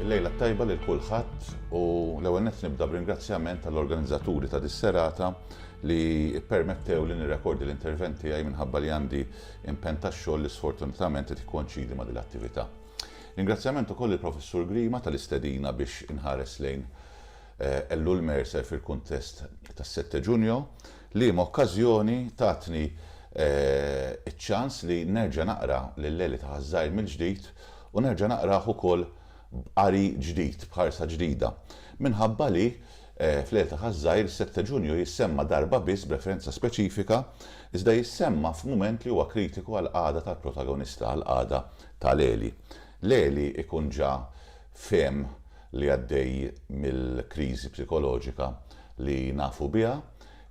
Lejla tajba lil kulħadd u l-ewwel nett nibda b'ringrazzjament tal-organizzaturi ta' dis-serata li permettew li nirrekordi l-intervent tiegħi minħabba li għandi impenn tax-xogħol li sfortunatament qed ikkonċidi ma' din l-attività. Ringrazzjament ukoll il-Professur Grima tal-istedina biex inħares lejn Ellul Mercer fil-kuntest tas-Sette Ġunjo, liema okkażjoni tatni ċ-ċans li nerġa' naqra lil Eli ta' ħaż-żgħir mill-ġdid u nerġa' naqrah ukoll b'qari ġdid, b'ħarsa ġdida. Minħabba li, fl-Eli ta' ħaż-żgħir, is-Sette Ġunjo jissemma darba biss b'referenza speċifika, iżda jissemma f'mument li huwa kritiku għall-qagħda tal-protagonista, għall-qagħda ta' Eli. L-għeli jkun ġa fehem li għaddej mill-kriżi psikoloġika li nafu biha,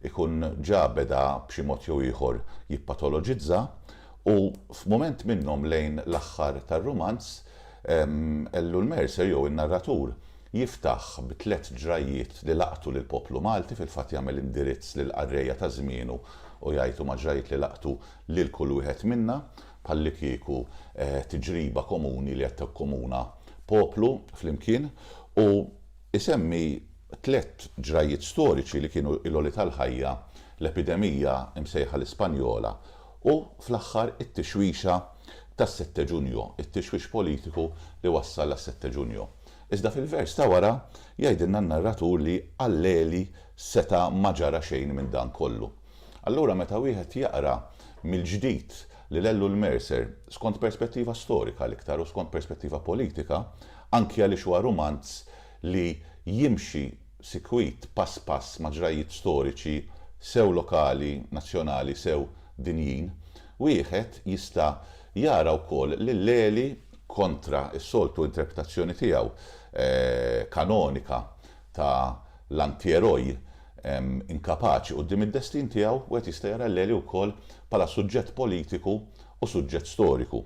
ikun ġa beda b'xi mod jew ieħor jippatoloġizza u f'mument minnhom lejn l-aħħar tar-rumanz, Ellul Mercer jew in-narratur jiftaħ b'tliet ġrajjiet li laqtu lill-poplu Malti, fil-fatt jagħmel indirizz lill-qarrejja ta' żmienu u jgħid huma ġrajjiet li laqtu lil kull wieħed minna, bħallikieku tiġriba komuni li qed tikkomuna poplu flimkien, u jsemmi tliet ġrajjiet storiċi li kienu l-għoli tal-ħajja, l-epidemija msejħa l-Ispanjola u, fl-aħħar, it-tixwixa tas-Sette Ġunju, it-tixwix politiku li wassal għas-Sette Ġunju. Iżda fil-vers ta' wara jgħidilna n-narratur li għal Leli seta' ma ġara xejn minn dan kollu. Allura meta wieħed jaqra mill-ġdid lil Ellul Mercer, skont perspettiva storika l-iktar u skont perspettiva politika, anki għaliex huwa rumanz li jimxi sikwit pass pass ma' ġrajjiet storiċi sew lokali, nazzjonali sew dinjin, wieħed jista' jara wkoll li Leli, kontra s-soltu interpretazzjoni tiegħu kanonika ta' l-antieroj inkapaċi quddiem id-destin tiegħu, wieħed jista' jara l-Għeli wkoll bħala suġġett politiku u suġġett storiku.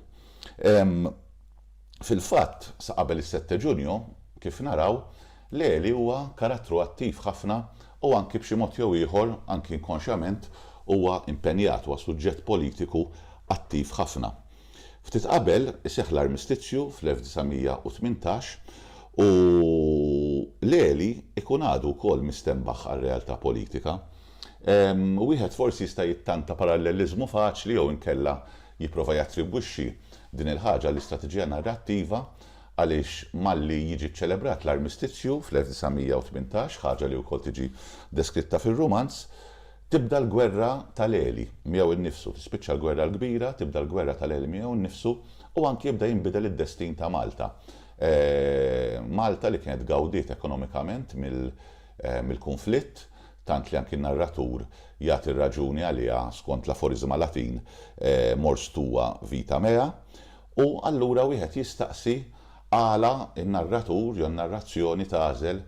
Fil-fatt, sa qabel is-Sette Ġunju, kif naraw, l-Għeli huwa karattru attiv ħafna u anki b'xi mod jew ieħor, anki inkonxjament, huwa impenjat, huwa suġġett politiku attiv ħafna. Ftit qabel iseħħ l-armistizzju fl-1918 u Leli jkun għadu wkoll mistenbaħ għar-realtà politika. Wieħed forsi jista' jittanta paralleliżmu faċli jew inkella jipprova jattribwixxi din il-ħaġa għall-istrateġija narrattiva għaliex malli jiġi ċċelebrat l-armistizzju fl-1918, ħaġa li wkoll tiġi deskritta fir-rumanz, Tibda l-gwerra ta' Leli miegħu nnifsu, tispiċċa l-Gwerra l-Kbira, tibda l-gwerra ta' Leli miegħu nnifsu u anki jibda jinbidel id-destin ta' Malta. Malta li kienet gawdiet ekonomikament mill-kunflitt, tant li anki n-narratur jagħti r-raġuni għaliha skont l-aforiżma Latin mors tua vita mea, u allura wieħed jistaqsi Għala n-narratur jew n-narrazzjoni tagħżel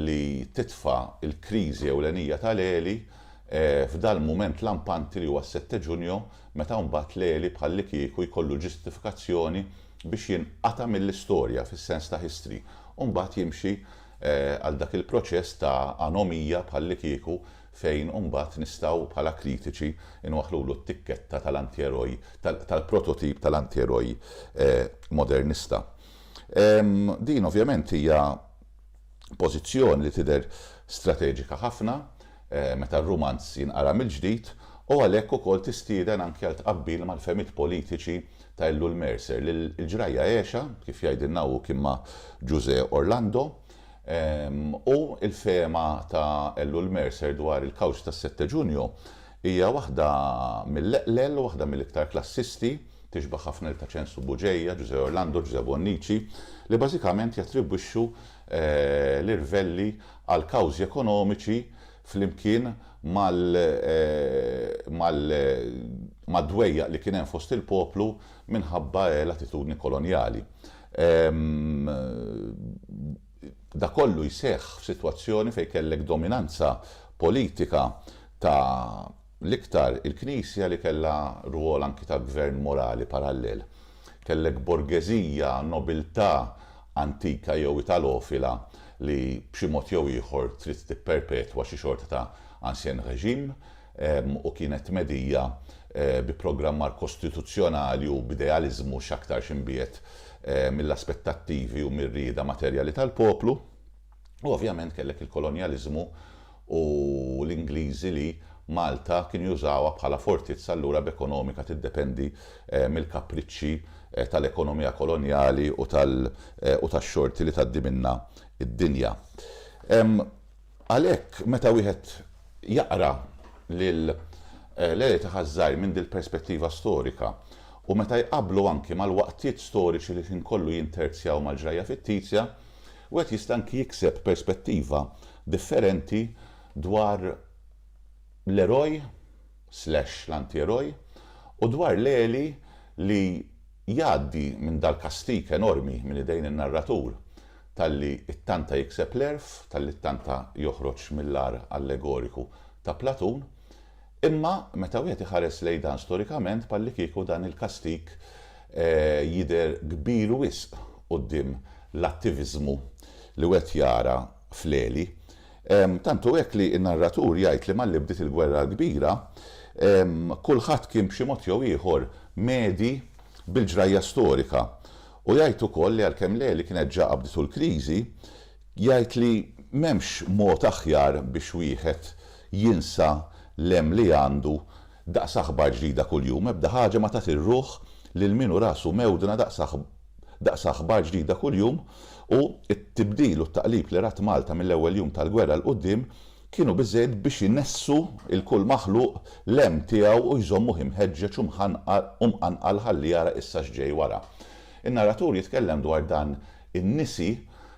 li titfa' l-kriżi ewlenija ta' Leli f'dal-mument lampanti li huwa s-Sette Ġunju meta mbagħad Leli bħallikieku jkollu ġustifikazzjoni biex jinqata' mill-istorja fis-sens ta' history u mbagħad jimxi għal dak il-proċess ta' anomija bħallikieku fejn imbagħad nistgħu bħala kritiċi nwaħħlulu t-tikketta tal-antieroj, tal-prototip tal-antieroj modernista. Din ovvjament hija pożizzjoni li tidher strateġika ħafna meta r-rumanz jinqara mill-ġdid u għalhekk ukoll tistieden anki għal tqabbil mal-fehmiet politiċi ta' Ellul Mercer li l-ġrajja għexha, kif jgħidilna hu kien ma' Ġużè Orlando, U l-fehma ta' Ellul Mercer dwar il-kawċ tas-Setteġunju hija waħda mill-eqlel, waħda mill-iktar klassisti, tixbaħ ħafna lil Taċensu Bugeja, Ġużè Orlando, Ġużè Bonnici, li bażikament jattribwixxu l-irvelli għal kawżi ekonomiċi flimkien mad-dwejjaq li kien hemm fost il-poplu minħabba l-attitudni kolonjali. Dan kollu jseħħ f'sitwazzjoni fejn kellek dominanza politika ta' l-iktar il-Knisja li kellha rwol anki ta' gvern morali parallel. Kellek borgeżija, nobiltà antika jew italofila li b'xi mod jew ieħor trid tipperpetwa xi xorta ta' ancien régime. u kienet tmedija bi programmar kostituzzjonali u b'idealiżmu x'aktarx imbiegħed mill-aspettattivi u mir-rieda materjali tal-poplu. U ovvjament kellek il-kolonjaliżmu u l-Ingliżi li Malta kienu jużawha bħala fortizza allura b'ekonomika tiddependi mill-kapriċċi tal-ekonomija kolonjali u tax-xorti li tgħaddi minnha d-dinja. Għalhekk, meta wieħed jaqra lil Lele ta' Ħaż-Żgħir minn dil-perspettiva storika, u meta jqabblu anki mal-waqtiet storiċi li l-ħin kollu jinterzjaw mal-ġrajja fittizja, wieħed jista' anki jikseb perspettiva differenti dwar l-eroj, slash l-antieroj, u dwar l-għeli li jgħaddi minn dal-kastig enormi minn idejn in-narratur talli ttanta jikseb l-għerf, talli ttanta joħroġ mill-agħar allegoriku ta' Platun. Imma meta wieħed iħares lejn dan storikament bħallikieku dan il-kastig jidher kbir wisq quddiem l-attiviżmu li wieħed jara fl-għeli. Tant hu hekk li n-narratur jgħid li malli bdiet il-Gwerra l-Kbira, kulħadd kien b'xi mod jew ieħor mgħedi bil-ġrajja storika. U jgħid ukoll li għalkemm l-għeli kienet ġa qabditu l-kriżi, jgħid li m'hemmx mod aħjar biex wieħed jinsa l-hemm li għandu Daqs aħbar ġdida kuljum ebda ħaġa ma tagħti r-ruħ lil min hu rasu mewdna daqs daqs aħbar ġdida kuljum u t-tibdil u t-taqlib li rat Malta mill-ewwel jum tal-gwerra 'l quddiem kienu biżżejjed biex inessu 'l kull maħluq l-hemm tiegħu u jżommuh imħeġġeġ u mħanqar u mqanqal ħalli jara issa x'ġej wara. In-narratur jitkellem dwar dan in-nisi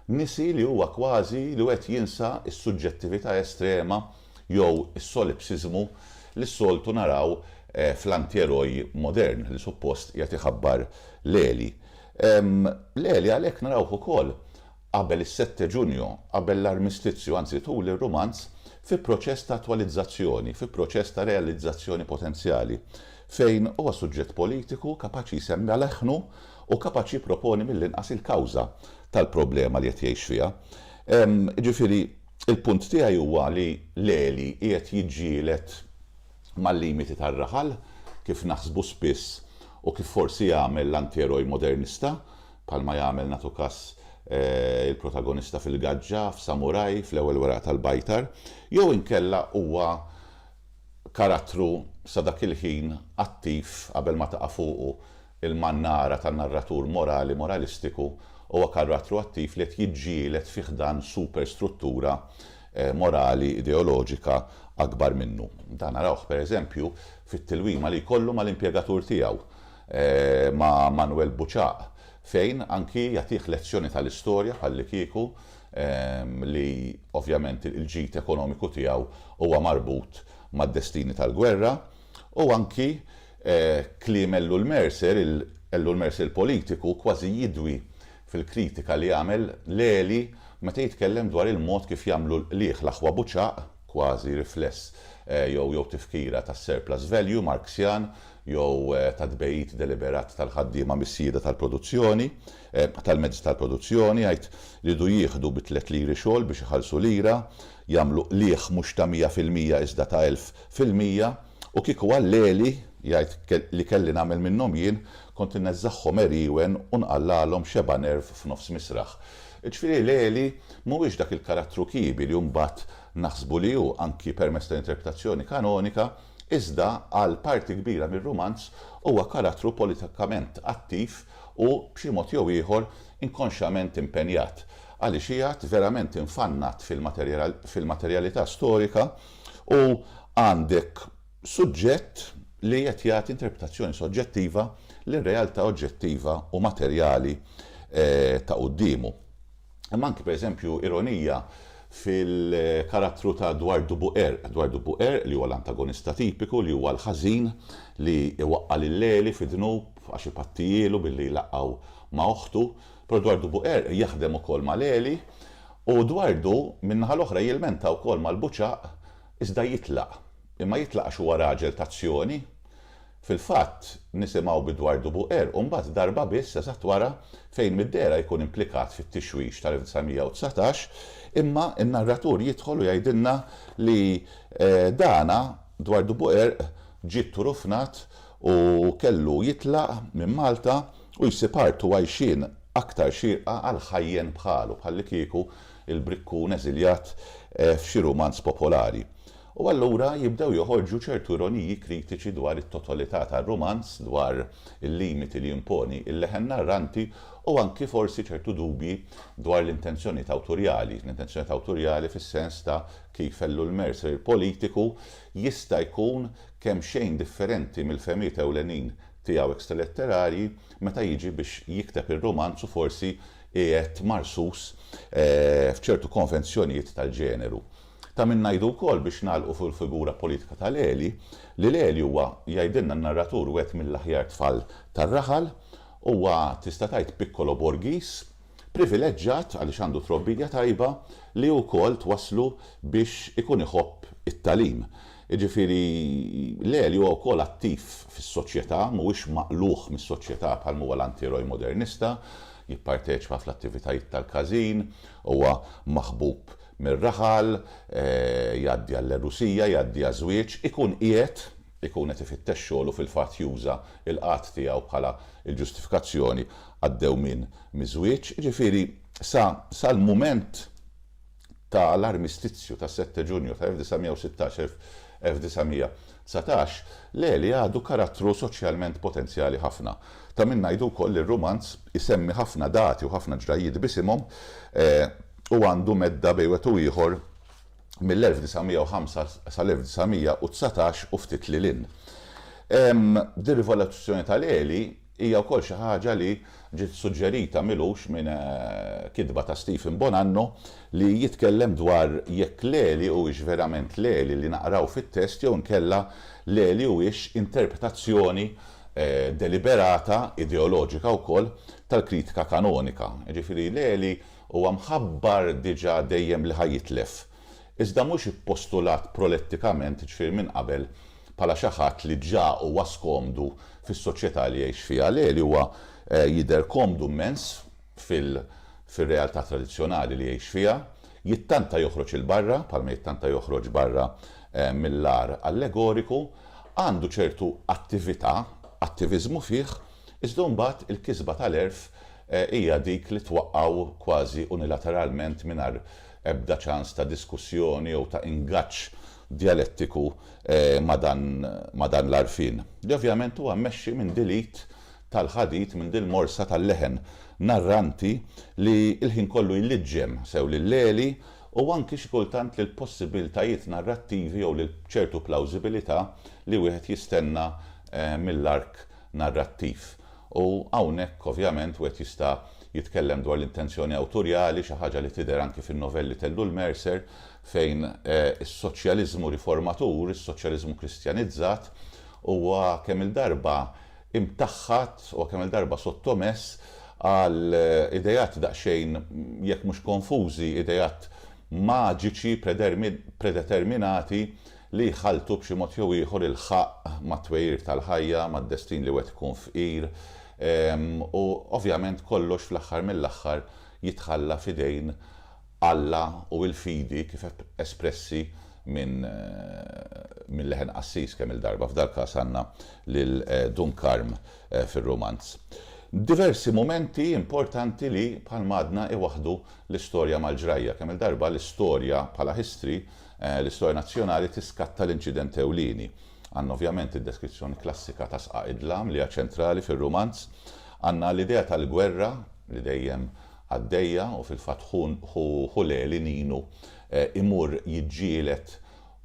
nisi li huwa kważi li wieħed jinsa s-suġġettività estrema jew is-solipsiżmu li s-soltu naraw fl-antieroj modern li suppost jagħti ħabbar l-għeli. L-għeli għalhekk narawh ukoll qabel is-Sette Ġunju, qabel l-Armistizju, anzi tul ir-Rumanz, fi proċess ta' attwalizzazzjoni, fi proċess ta' realizzazzjoni potenzjali, fejn huwa suġġett politiku kapaċi jsemmi għal eħħnu u kapaċi jipproponi mill-inqas il-kawża tal-problema li qed jgħix fiha. Jiġifieri. Il-punt tiegħi huwa li l-għeli qiegħed jiġġieled mal-limiti tar-raħal, kif naħsbu spiss u kif forsi jagħmel l-antieroj modernista, bħalma jagħmel nagħtu kas il-protagonista fil-gaġġa, f'Samurai, fl-ewwel weraq tal-bajtar, jew inkella huwa karattru sa dak il-ħin attiv qabel ma taqa' fuqu l-mannara ta' narratur morali moralistiku, huwa karattru attiv li qed jiġġieled fi ħdan superstruttura morali ideoloġika akbar minnu. Dan narawh, per eżempju, fit-tilwima li jkollu mal-impjegatur tiegħu, ma' Manwel Buċaq, fejn anki jagħtih lezzjoni tal-istorja bħallikieku, li ovvjament il-ġid ekonomiku tiegħu huwa marbut mad-destini tal-gwerra, u anki kliem Ellul Mercer, Ellul Mercer il-politiku, kważi jidwi fil-kritika li jagħmel Leli meta jitkellem dwar il-mod kif jagħmlu l-qligħ l-aħwa buċaq, kważi rifless jew jew tifkira tas-surplus value Marxjan jew tat-tbegħid deliberat tal-ħaddiema mis-sjieda tal-produzzjoni. tal-mezzi tal-produzzjoni, jgħid li jridu jieħdu bi tliet liri xogħol biex iħallsu lira, jagħmlu qligħ mhux ta' mija fil-mija iżda ta' elf fil-mija, u kieku għall-għeli, jgħid, li kelli nagħmel minnhom jien, kont inneżżagħhom għeriewen u nqallagħlhom xebgħa nerv f'nofs misraħ. Jiġifieri l-għeli mhuwiex dak il-karattru kiebi li mbagħad naħsbu li hu, anki permezz tal-interpretazzjoni kanonika, iżda għal parti kbira mir-rumanz huwa karattru politikament attiv, Hu, b'xi mod jew ieħor, inkonxjament impenjat, għaliex qiegħed verament infannat fil-materjalità storika u għandek suġġett li qed jagħti interpretazzjoni soġġettiva lir-realtà oġġettiva u materjali ta' quddiemu. Hemm anki, per eżempju, ironija fil-karattru ta' Dwardu Buqerq. Dwardu Buqerq, li huwa l-antagonista tipiku, li huwa l-ħażin li iwaqqa' lil Leli fi dnub għax ipattijielu billi jlaqqgħu ma' oħtu. Però Dwardu Buqerq jaħdem ukoll ma' Leli u Dwardu, min-naħa l-oħra, jilmenta wkoll mal-buċaq iżda jitlaq. Imma jitlaq għax huwa raġel t'azzjoni, Fil-fatt, nisimgħu bi dwar Dubu Qerq u mbagħad darba biss eżatt wara fejn mid-dehra jkun implikat fit-tixwix tal-1919, imma n-narratur jidħol u jgħidilna li dana, dwar Dubu Qerq, ġie tturufnat u kellu jitlaq minn Malta u jsib art u għajxien aktar xierqa għal ħajjen bħalu, bħallikieku il-brikkun eżiljat f'xi rumanz popolari. U allura jibdew joħorġu ċertu ironiji kritiċi dwar it-totolità tar-rumanz, dwar il-limiti li jimponi l-leħen narranti u anki forsi ċertu dubji dwar l-intenzjonijiet awturjali, l-intenzjonijiet awturjali fis-sens ta' kif Ellul Mercer il-politiku jista' jkun kemxejn differenti mill-fehmiet ewlenin tiegħu extraletterarji meta jiġi biex jikteb ir-rumanz u forsi qiegħed marsus f'ċertu konvenzjonijiet tal-ġeneru. Ta' min ngħidu wkoll, biex nagħlqu fuq il-figura politika ta' Leli, li Leli huwa, jgħidilna n-narratur, wieħed mill-aħjar tfal tar-raħal. Huwa, tista' tgħid, piccolo Borghis, privileġġat għaliex għandu trobbija tajba li hi wkoll twasslu biex ikun iħobb it-tagħlim. Jiġifieri, Leli huwa wkoll attiv fis-soċjetà, mhuwiex maqlugħ mis-soċjetà bħalma huwa l-antieroj modernista, jipparteċipa fl-attivitajiet tal-każin, huwa maħbub mir-raħal, jgħaddi għall-għerusija, jgħaddi għaż-żwieġ, ikun qiegħed, ikun qed ifittex xogħol u fil-fatt juża l-qgħad tiegħu bħala l-ġustifikazzjoni għad-dewmien miż-żwieġ, jiġifieri sa sal-mument ta' l-armistizju tas-Sette Ġunju ta' 1916, 1919, Leli għadu karattru soċjalment potenzjali ħafna. Ta' min ngħidu wkoll li r-rumanz isemmi ħafna dati u ħafna ġrajjiet b'isimhom, u għandu medda bejn wieħed u ieħor mill-1905 sal-1919 u ftit lil hinn. Dir-rivoluzzjoni tal-għeli hija wkoll xi ħaġa li ġiet suġġerita m'ilux minn kitba ta' Stephen Bonanno li jitkellem dwar jekk l-għeli huwiex verament l-għeli li naqraw fit-test jew inkella l-għeli huwiex interpretazzjoni deliberata, ideoloġika wkoll, tal-kritika kanonika. Jiġifieri l-għeli Huwa mħabbar diġà dejjem li ħa jitlef, iżda mhux ippostulat prolettikament, jiġifieri minn qabel, bħala xi ħadd li ġa huwa skomdu fis-soċjetà li jgħix fiha. Le, li huwa jidher komdu mmens fil-realtà tradizzjonali li jgħix fiha, jittanta joħroġ 'il barra, bħalma jittanta joħroġ barra mill-għar allegoriku, għandu ċertu attività, attiviżmu fih, iżda mbagħad il-kisba tal-għerf hija dik li twaqqgħu kważi unilateralment mingħajr ebda ċans ta' diskussjoni jew ta' ingaġġ djalettiku ma' dan l-għarfien, li ovvjament huwa mmexxi minn dil-id tal-ħadid, minn dil-morsa tal-leħen narranti li l-ħin kollu jliġġem sew lil Leli u anki xi kultant lill-possibbiltajiet narrattivi jew lil ċertu plawżibilità li wieħed jistenna mill-ark narrattiv. U hawnhekk ovvjament wieħed jista' jitkellem dwar l-intenzjoni awturjali, xi ħaġa li tidher anki fin-novelli t'Ellul Mercer, fejn is-soċjaliżmu riformatur, is-soċjaliżmu kristjanizzat, huwa kemm-il darba imtaħħad, huwa kemm-il darba sottomess għal ideat daqsxejn, jekk mhux konfużi, ideat maġiċi, predeterminati, li jħalltu b'xi mod jew ieħor il-ħaqq mat-twegħir tal-ħajja, mad-destin li wieħed ikun fqir, u ovvjament kollox fl-aħħar mill-aħħar jitħalla f'idejn Alla u l-fidi kif espressi minn minn leħen qassis kemm-il darba, f'dal-każ għandna lil Dun Karm fir-rumanz. Diversi mumenti importanti li, bħalma għadna, iwaħħdu l-istorja mal-ġrajja. Kemm-il darba l-istorja bħala history L-istorja nazzjonali tiskatta l-inċident ewlieni. Għandna ovvjament id-deskrizzjoni klassika ta' sqaq id-dlam li hija ċentrali fir-rumanz. Għandna l-idea tal-gwerra li dejjem għaddejja u fil-fatt ħu Leli, Ninu, imur jiġġieled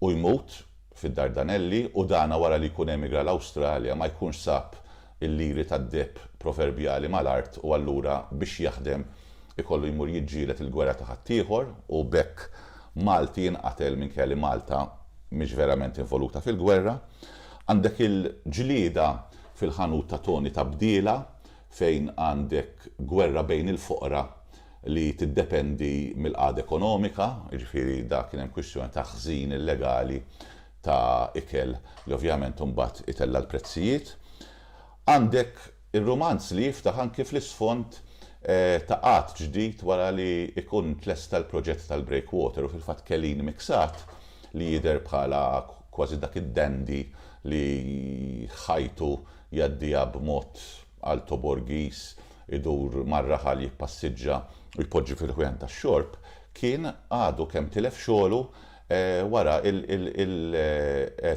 u jmut fid-Dardanelli u dana wara li jkun emigra l-Awstralja ma jkunx sab il-liri tad-deheb proverbjali mal-art u allura biex jaħdem ikollu jmur jiġġieled il-gwerra ta' ħaddieħor u b'hekk Malti jinqatel minkejja li Malta mhix verament involuta fil-gwerra. Għandek il-ġlieda fil-ħanut ta' Toni Tabdila fejn għandek gwerra bejn il-foqra li tiddependi mill-qagħda ekonomika, jiġifieri dak kien hemm kwistjoni ta' ħżin illegali ta' ikel li ovvjament imbagħad itella' l-prezzijiet. Għandek ir-rumanz li jiftaħ anki fl-isfond ta' qagħad ġdid wara li jkun tlesta l-proġett tal-breakwater u fil-fatt Kelin Miksat li jidher bħala kważi dak id-dandy li ħajtu jgħaddiha b'mod Alto Borghis idur mar-raħal jippassiġġa u jpoġġi fil-ħwieħen tax-xorb kien għadu kemm tilef xogħlu wara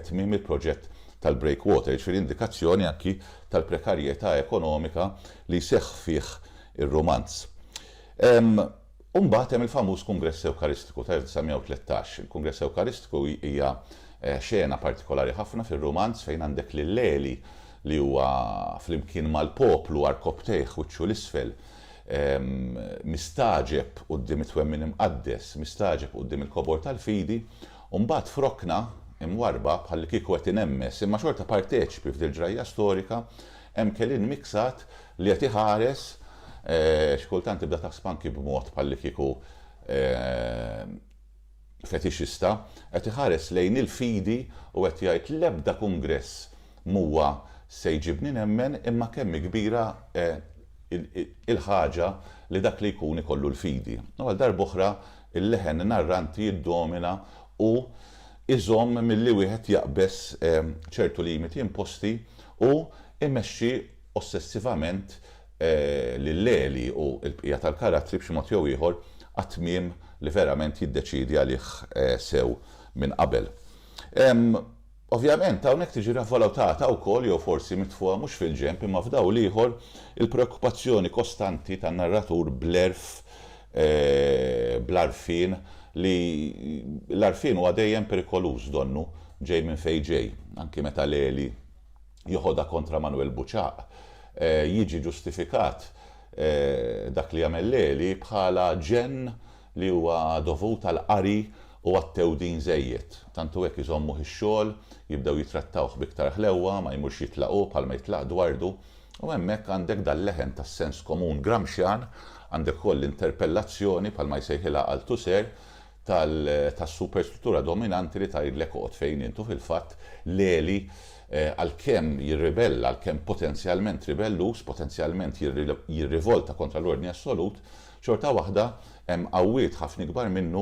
tmiem il-proġett tal-breakwater, jiġifieri indikazzjoni anki tal-prekarjetà ekonomika li jseħħ fih ir-rumanz. U mbagħad hemm il-famuż Kungress Ewkaristiku ta' 1913. Il-Kungress Ewkaristiku hija xena partikolari ħafna fir-rumanz fejn għandek lil Leli li huwa flimkien mal-poplu għarkopptejh wiċċu 'l isfel mistagħġeb quddiem it-twemmin imqaddes, mistagħġeb quddiem il-kobor tal-fidi, u mbagħad f'rokna imwarrba bħallikieku qed inemmes imma xorta parteċipi f'dil ġrajja storika, hemm kelin miksat li qed iħares, xi kultant tibda taħseb anki b'mod bħallikieku, fetixista qed iħares lejn il-fidi u qed jgħid l-ebda kungress mhuwa se jġibni nemmen imma kemm hi kbira il-ħaġa li dak li jkun ikollu l-fidi. U għal darb'oħra l-leħen narranti jiddomina u jżomm milli wieħed jaqbeż ċertu limiti imposti u jmexxi ossessivament lil Leli u l-bqija tal-karattri b'xi mod jew ieħor għat-tmiem li verament jiddeċiedi għalih sew minn qabel. Ovvjament, hawnhekk tiġi ravvalutata wkoll, jew forsi mitfugħa mhux fil-ġenb imma f'dawl ieħor, il-preokkupazzjoni kostanti tan-narratur bl-għerf bl-għarfien li l-għarfien huwa dejjem perikoluż donnu ġej minn fejn ġej, anki meta Leli, joħodha kontra Manwel Buċaq jiġi ġustifikat dak li jagħmel Leli bħala ġenn li huwa dovut għall-qari u għat-tewdin żejjed. Tant hu hekk iżommuh ix-xogħol, jibdew jitrattawh b'iktar ħlewwa, ma jmurx jitlaq hu bħalma jitlaq Dwardu. U hemmhekk għandek dal-leħen tas-sens komun Gramscian, għandek ukoll l-interpellazzjoni bħalma jsejħilha Althusser, tas-superstruttura dominanti li tgħidlek oqgħod fejn int u fil-fatt l-għeli għalkemm jirribella, għalkemm potenzjalment ribelluż, potenzjalment jirrivolta kontra l-ordni assolut, xorta waħda hemm qawwiet ħafna ikbar minnu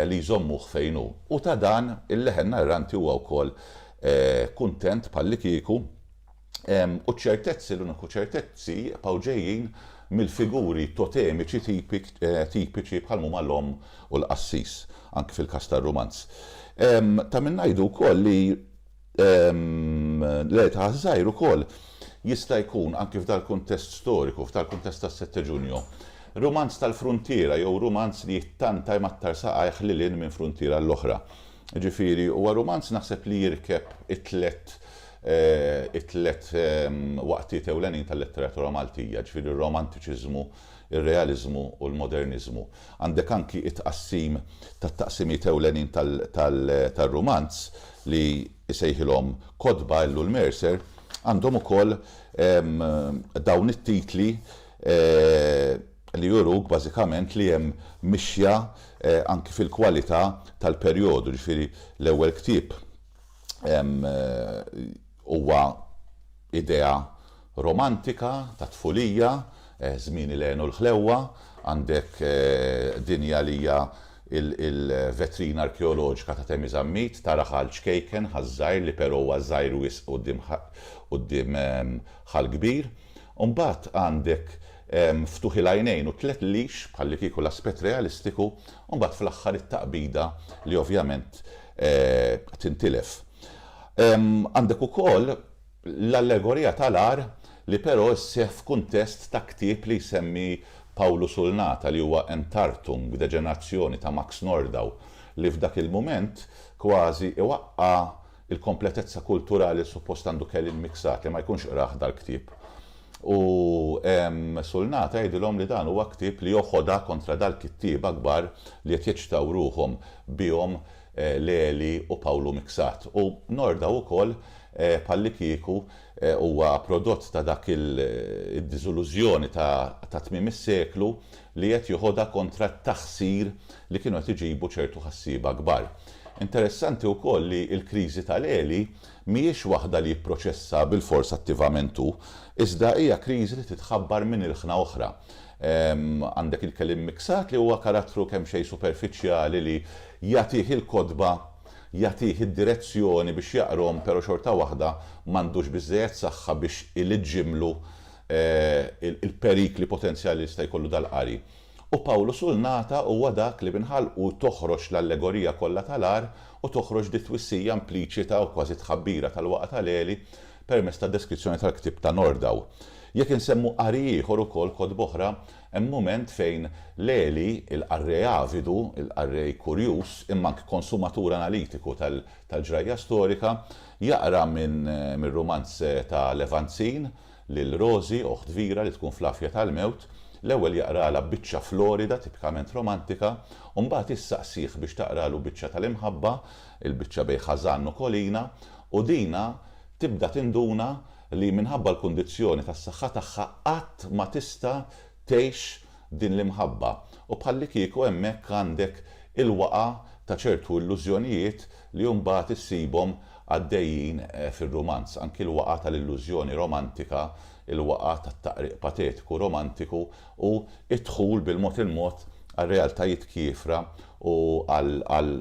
li jżommuh fejn hu. U ta' dan il-leħen narranti huwa wkoll kuntent bħallikieku. u ċ-ċertezzi, l-uniku ċertezzi jibqgħu ġejjin mill-figuri totemiċi tipiċi bħal huma l-omm u l-qassis, anki fil-każ tar-rumanz. Ta' min ngħidu wkoll li l-Eta għaż-Żgħir ukoll jista' jkun, anki f'dal-kuntest storiku, f'dal-kuntest tas-Setteġunju, rumanz tal-fruntiera jew rumanz li jittanta jmattar saqajh lil hinn minn fruntiera għall-oħra. Jiġifieri, huwa rumanz naħseb li jirkeb it-tliet it-tliet waqtiet ewlenin tal-letteratura Maltija, ġifieri r-Romantiċiżmu, ir-Realiżmu u l-Moderniżmu. Għandek anki t-tqassim tat-taqsimiet ewlenin tar-rumanz li jsejħilhom kotba, Ellu l-Mercer, għandhom ukoll dawn it-titli li juruk bażikament li hemm mixja anki fil-kwalità tal-perjodu, ġifieri l-ewwel ktieb, Huwa idea romantika tat-tfulija, żmieni li għenu l-ħlewwa, għandek dinja li hija l-vetrina arkeoloġika ta' Temi Zammit, tara Ħal Ċkejken, Ħal Żgħir li però huwa żgħir wisq quddiem Ħal Kbir. U mbagħad għandek ftuħ il-għajnejn u t-tliet lix, bħallikieku l-aspett realistiku, u mbagħad fl-aħħar it-taqbida li ovvjament tintilef. Għandek ukoll l-allegorija tal-agħar li però sseħħ f'kuntest ta' ktieb li jsemmi Pawlu Sulnata li huwa Entartung, b'deġenazzjoni ta' Max Nordau, li f'dak il-mument kważi iwaqqa' l-kompletezza kulturali li suppost għandu Kelly l-Miksat li ma jkunx qrah dal-ktieb. U Sulna tgħidilhom li dan huwa ktieb li hu ħoda kontra dal-kittieba kbar li qed jeċċtaw ruħhom bihom Leli u Pawlu Miksat. U Norda ukoll bħallikieku huwa prodott ta' dak id-diżilużjoni ta' tmiem is-seklu li qed jeħodha kontra t-taħsir li kienu qed iġibu ċertu ħassieba kbar. Interessanti wkoll li l-kriżi ta' Leli Mhijiex waħda li jipproċessa bilfors attivament hu, iżda hija kriżi li titħabbar minn ilħna oħra. Għandek il-keliem miksat li huwa karattru kemxejn superfiċjali li jagħtih il-kotba, jagħtih id-direzzjoni biex jaqrom pero xorta waħda m'għandux biżżejjed saħħa biex iliġġimlu il-perikli potenzjali li jista' jkollu dal-qari. U Pawlu Sulnata huwa dak li minn ħalqu toħroġ l-allegorija kollha tal-agħar u toħroġ di twissija impliċita u kważi tħabbira tal-waqgħa ta' Leli permezz tad-deskrizzjoni tal-ktieb ta' Nordau. Jekk insemmu qari ieħor ukoll, kotba oħra, hemm mument fejn Leli, il-qarrej avidu, il-qarrej kurjuż, imma anki konsumatur analitiku tal-ġrajja storika, jaqra minn rumanz ta' Levanzin, Lil Rosie, oħt kbira li tkun fl-għafja tal-mewt, l-ewwel jaqralha biċċa florida tipikament romantika u mbagħad jissaqsih biex taqralu biċċa tal-imħabba, il-biċċa bejn Ħażan u Kolina, u Dina tibda tinduna li minħabba l-kundizzjoni tas-saħħa tagħha qatt ma tista' tgħix din l-imħabba u bħallikieku hemmhekk għandek il-waqgħa ta' ċertu illużjonijiet li mbagħad issibhom għaddejjin fir-rumanz, anki l-waqgħa tal-illużjoni romantika, il-waqgħa tat-taqriq patetiku romantiku u d-dħul bil-mod il-mod għal realtajiet kiefra u għal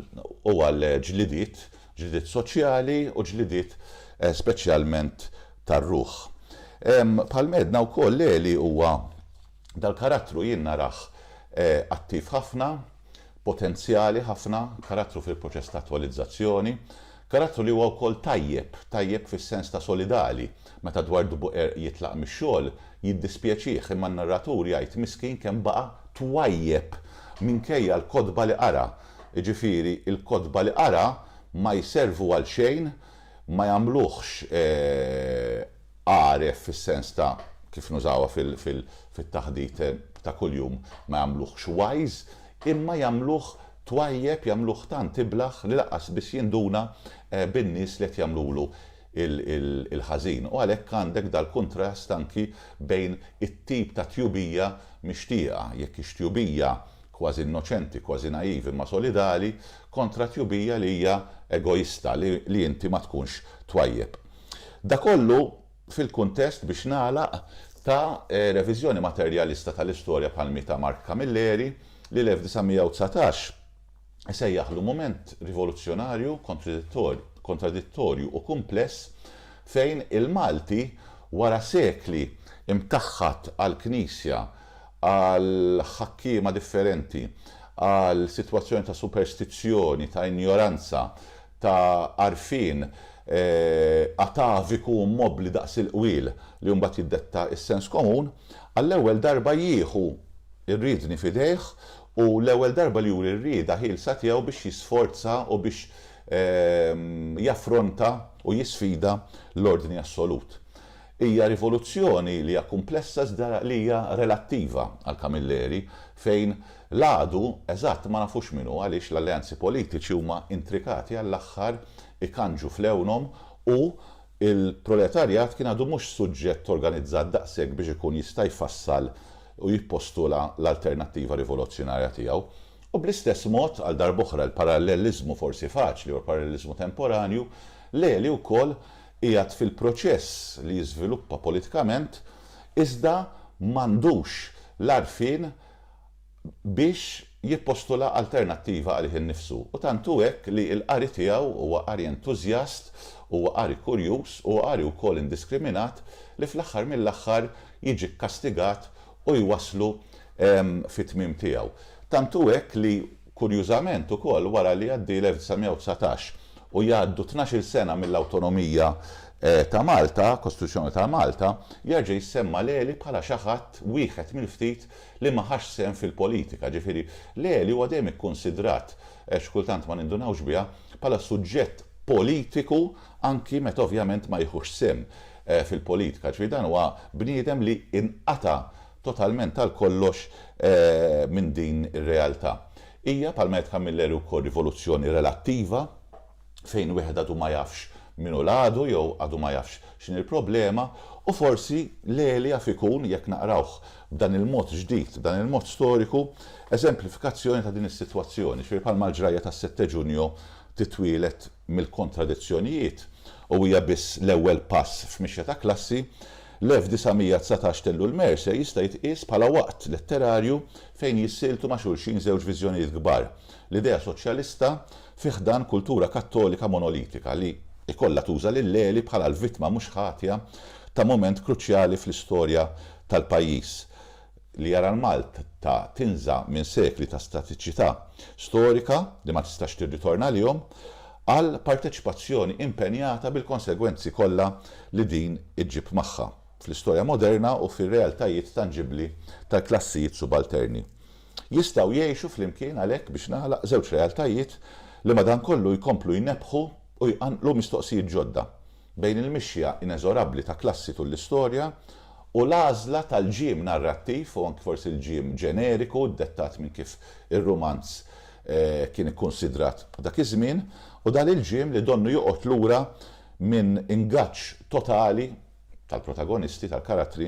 ġlidiet, ġlidiet soċjali u ġlidiet speċjalment tar-ruħ. Bħal m'għedna wkoll Leli huwa, dal-karattru jien narah attiv ħafna. Potenzjali ħafna, karattru fil-proċess ta' attwalizzazzjoni, karattru li huwa wkoll tajjeb, tajjeb fis-sens ta' solidali, meta Dwardu Buqerq jitlaq mix-xogħol, jiddispjaċih imma n-narratur jgħid miskin kemm baqa' twajjeb minkejja l-kotba li qara, jiġifieri l-kotba li qara ma jservu għal xejn, ma jagħmluhx, għaref fis-sens ta' kif nużawha fit-taħdit ta' kuljum ma jagħmluhx wise, imma jagħmluh twajjeb, jagħmluh tant iblah li lanqas biss jinduna bin-nies li qed jagħmlulu l-ħażin. U għalhekk għandek dal-kuntrast anki bejn it-tip ta' tjubija mixtieqa, jekk hix tjubija kważi innoċenti, kważi naive imma solidali, kontra tjubija li hija egoista, li inti ma tkunx twajjeb. Da kollu fil-kuntest, biex nagħlaq, ta' reviżjoni materjalista tal-istorja bħall-mi ta' Mark Camilleri, li l-1919 isejjaħlu mument rivoluzzjonarju, kontradittorju u kumpless fejn il-Malti, wara sekli imtaħħad għall-Knisja, għal ħakkiema differenti, għal sitwazzjoni ta' superstizzjoni, ta' injoranza, ta' għarfien ataviku u mmobbli daqs il-qwiel li mbagħad jiddetta s-sens komun, għall-ewwel darba jieħu r-riedni f'idejh u l-ewwel darba li juri r-rieda ħielsa tiegħu biex jisforza u biex jaffronta u jisfida l-ordni assolut. Hija rivoluzzjoni li hija kumplessa iżda li hija relattiva għal Camilleri fejn L-għadu eżatt ma nafux min hu għaliex l-alleanzi politiċi huma intrikati għall-aħħar ikandġu f'lewnhom u l-proletarjat kien għadu mhux suġġett organizzat daqshekk biex ikun jista' jfassal u jippostula l-alternattiva rivolozzjonarja tiegħu. U bl-istess mod, għal darb'oħra, il-paralleliżmu forsi faċli u l-paralleliżmu temporanju, l-għeli wkoll qiegħed fil-proċess li jiżviluppa politikament iżda m'għandux l-għarfien biex jippostula alternattiva għalih innifsu. U tant hu hekk li l-qari tiegħu huwa qari entużjast, huwa qari kurjuż, huwa qari wkoll indiskriminat li fl-aħħar mill-aħħar jiġi kkastigat u jwasslu fit-tmiem tiegħu. Tant hu hekk li. Kurjużament ukoll wara li jgħaddi l-1919 u jgħaddu tnax-il sena mill-awtonomija ta' Malta, Kostituzzjoni ta' Malta, jerġa' jissemma Leli bħala xi ħadd wieħed mill-ftit li ma ħax sehem fil-politika. Ġifieri, Leli huwa dejjem ikkunsidrat, xi kultant ma nindunawx biha, bħala suġġett politiku anki meta ovvjament ma jiħux sehem fil-politika. Ġifieri dan huwa bniedem li inqata' totalment għal kollox minn din ir-realtà. Hija, bħalma għedt Camilleri wkoll, rivoluzzjoni relattiva, fejn wieħed għadu ma jafx min hu l-għadu jew għadu ma jafx x'inhi l-problema, u forsi l-għeli jaf ikun, jekk naqrawh b'dan il-mod ġdid, b'dan il-mod storiku, eżemplifikazzjoni ta' din is-sitwazzjoni, ġifieri bħalma l-ġrajja tas-Sette Junio titwieled, mill-kontradizzjonijiet u hija biss l-ewwel pass f'mixja ta' klassi, l-1919 t'Ellul Mercer jista' jitqies bħala waqt letterarju fejn jissieltu ma' xulxin żewġ viżjonijiet kbar, l-idea soċjalista fi ħdan kultura kattolika monolitika li jkollha tuża' lil Lely bħala l-vittma mhux ħatja ta' mument kruċjali fl-istorja tal-pajjiż. li jara l-Malta tinża minn sekli ta' statiċità storika li ma tistax tirritorna għalihom, għal parteċipazzjoni impenjata bil-konsegwenzi kollha li din iġġib magħha, fl-istorja moderna u fir-realtajiet tanġibbli tal-klassijiet subalterni. Jistgħu jgħixu flimkien għalhekk biex nagħlaq żewġ realtajiet li madankollu jkomplu jnebbħu u jqanqlu mistoqsijiet ġodda. bejn il-mixja ineżorabbli ta' klassi tul l-istorja u l-għażla tal-ġiem narrattiv u anki forsi l-ġiem ġeneriku ddettat minn kif ir-rumanz kien ikkunsidrat dak iż-żmien u dan il-ġiem li donnu joqgħod lura minn ingaġġ totali tal-protagonisti, tal-karattri,